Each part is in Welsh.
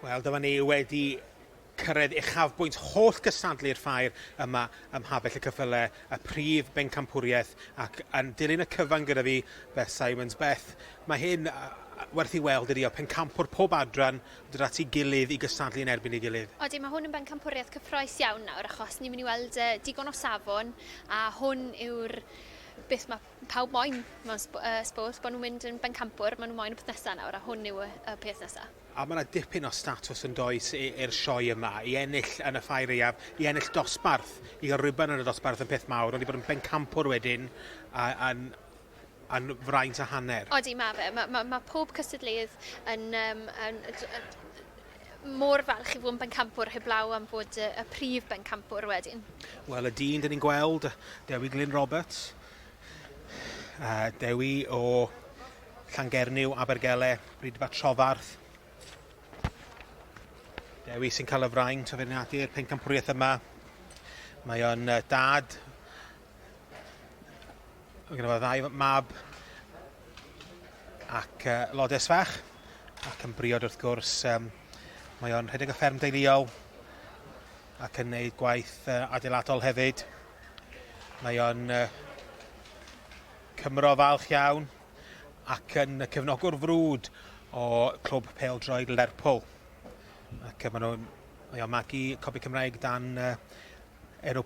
Wel, dyma ni wedi cyrraedd uchafbwynt holl gystadlu'r ffair yma ym Mhabell y Cyffyle, y prif bencampwriaeth, ac yn dilyn y cyfan gyda fi, Beth Simons. Beth, mae hyn werth i weld ydi o, pencampwr pob adran dod at ei gilydd i gystadlu yn erbyn ei gilydd. Odi, mae hwn yn bencampwriaeth cyffroes iawn nawr, achos ni'n mynd i weld uh, digon o safon, a hwn yw'r beth mae pawb moyn mewn sp uh, sport, bod nhw'n mynd yn bencampwr, maen nhw moyn y peth nesaf nawr, a hwn yw y, y peth nesaf. A mae yna dipyn o statws yn does i'r sioe yma, i ennill yn y ffair iaf, i ennill dosbarth, i gael rhywbeth yn y dosbarth yn peth mawr, ond i bod yn bencampwr wedyn, a'n yn fraint a hanner. Odi, mae fe. Mae, mae, mae pob cystadleuydd yn, um, yn, yn, yn mor falch i fod yn bencampwr heblaw am fod y, y prif bencampwr wedyn? Wel, y dyn dyn ni'n gweld, Dewi Glyn Roberts, a Dewi o Llangernyw, Abergele, Brydfa Trofarth. Dewi sy'n cael y fraint o feirniadu'r pencampwriaeth yma. Mae o'n dad Mae gen i fo ddau mab ac uh, lodes fach ac yn briod wrth gwrs um, mae o'n rhedeg y fferm deiliol ac yn gwneud gwaith uh, adeiladol hefyd. Mae o'n uh, Cymro falch iawn ac yn y cefnogwr frwd o clwb peldroed Lerpwl. Ac uh, mae o'n magu copi Cymraeg dan uh, enw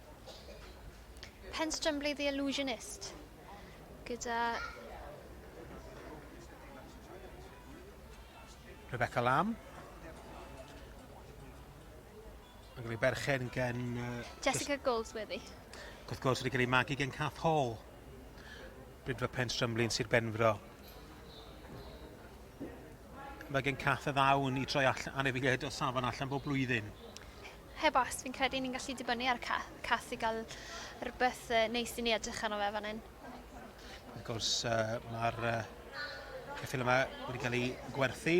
Penstrumbley the Illusionist gyda Rebecca Lamb. Mae'n cael ei berchen gen... Uh, Jessica Goldsworthy. Gwrth gwrs wedi cael ei magu gen Cath Hall. Brydfa Pen Strymlin, Sir Benfro. Mae gen Cath y ddawn i troi all anifeiliaid o safon allan bob blwyddyn. Heb os, fi'n credu ni'n gallu dibynnu ar ca cath i gael rhywbeth uh, neis i ni edrych arno fe fan hyn. Wrth gwrs, uh, mae'r uh, ceffil yma wedi cael ei gwerthu.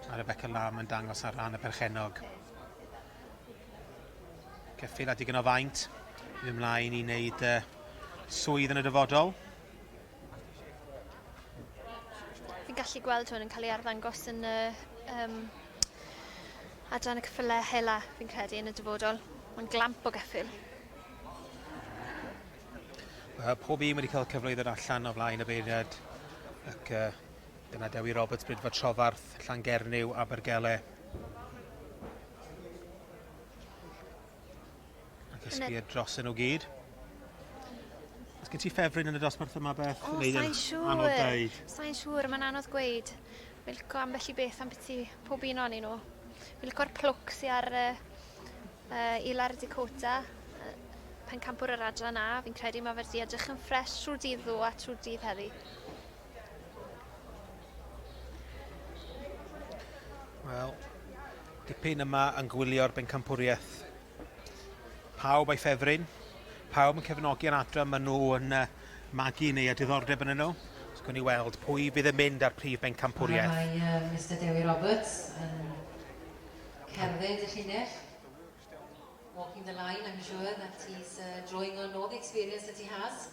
Mae Rebecca Lam yn dangos ar ran y perchenog. Ceffil a digon o faint. Yn ymlaen i wneud uh, swydd yn y dyfodol. Fi'n gallu gweld hwn yn cael ei arddangos yn y um, adran y cyffylau hela, fi'n credu, yn y dyfodol. Mae'n glamp o geffyl. Uh, pob un wedi cael cyfle i ddod allan o flaen y beiriad ac uh, dyna Dewi Roberts, Brydfa Trofarth, Llangernyw, Abergele. A cysgu e dros nhw gyd. Os gen ti ffefryn yn y dosbarth yma, Beth? O, sa'n siŵr. Sa'n siŵr, mae'n anodd gweud. Fi'n licio ambell i beth am beth i pob un o'n nhw. Fi'n licio'r plwc sy'n ar uh, uh, Ilar Dakota uh, pen campwr yr adran A. Fi'n credu mae fe'r di edrych yn ffres trwy dydd ddo a trwy dydd heddi. Wel, dipyn yma yn gwylio'r bencampwriaeth. Pawb a'i ffefryn, pawb yn cefnogi yn adra, maen nhw yn uh, magu neu a diddordeb yn nhw. Os gwni weld pwy fydd yn mynd â'r prif bencampwriaeth. Mae uh, Mr Dewi Roberts yn cerdded y llinell. Walking the line, I'm sure that he's uh, drawing on all the experience that he has.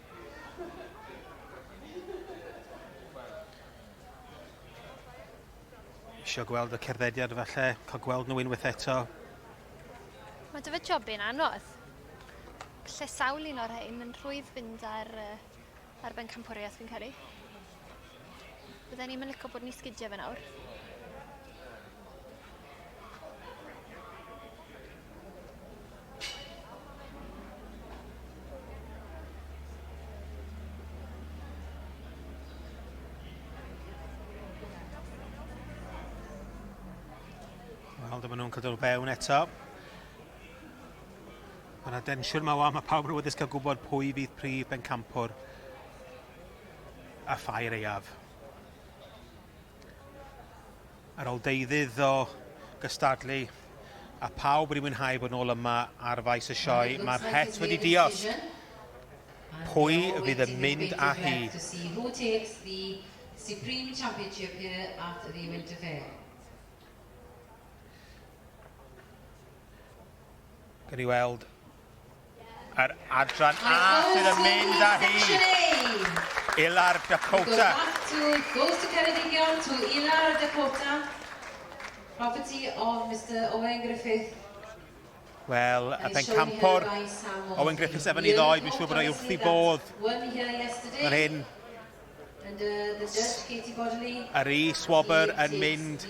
Isio gweld y cerddediad falle, cael gweld nhw unwaith eto. Mae dy fy job i'n anodd. Lle sawl un o'r rhain yn rhwydd fynd ar, uh, ar ben campwriaeth fi'n caru. Bydden ni'm yn licio bod ni sgidio fe nawr. Wel, dyma nhw'n cadw'r bewn eto. Mae yna densiwn mae wan, mae pawb yn awyddus cael gwybod pwy fydd prif bencampwr a phair aeaf. Ar ôl deuddydd o gystadlu a pawb wedi mwynhau bod nôl yma ar faes y sioe, mae'r het wedi dios. Pwy fydd yn mynd â hi? Who takes the Supreme Championship here at the Winter Fair? Gan i weld Yr adran A sydd yn mynd â hi. Ilar Dakota. Goes to Ceredigion to Ilar Dakota. Property of Mr Owen Griffith. Wel, a pen campor Owen Griffiths efo ni ddoed, fi'n siŵr bod o'i wrth i bodd. Yr hyn Yr i swobr yn mynd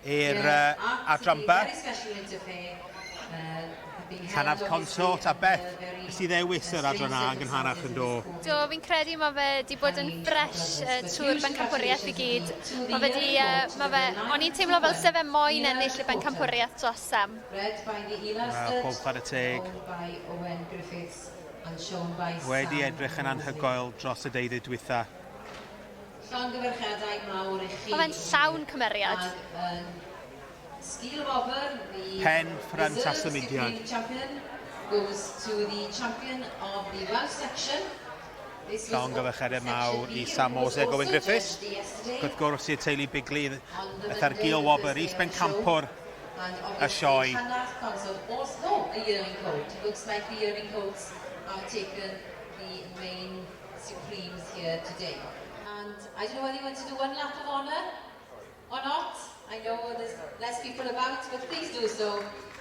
i'r adran Beth? Llanaf Consort a Beth? Nes i ddewis yr adran A yn gynharach yn do? Do, fi'n credu mae fe 'di bod yn fresh yy trwy'r bencampwriaeth i gyd. Mae fe 'di yy ma' fe... O'n i'n teimlo fel se fe moyn ennill y bencampwriaeth dros Sam. Wel, pob chwarae teg. Wedi edrych yn anhygoel dros y deuddydd dwytha. Llongyfarchiadau mawr i chi. Mae fe'n llawn cymeriad. Pen ffrynt a symudiad. Llongyfarchiadau mawr i Sam Mose a Gofyn Griffiths. Gwrth gwrs i'r teulu Bigley, Ethar Gil Wobr, Is Bencampwr, a sioe.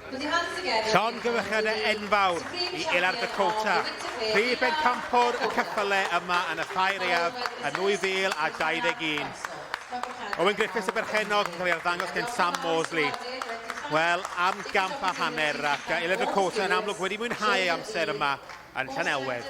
Llongyfarchiadau enfawr i Ilar Dakota, prif bencampwr y ceffylau yma yn y Ffair Aeaf yn 2021. Owen Griffiths y berchennog yn cael ei arddangos gen Sam Mosley. Wel, am gamp a hanner ac uh, Elena Cota yn amlwg wedi mwynhau ei amser yma yn Llanelwedd.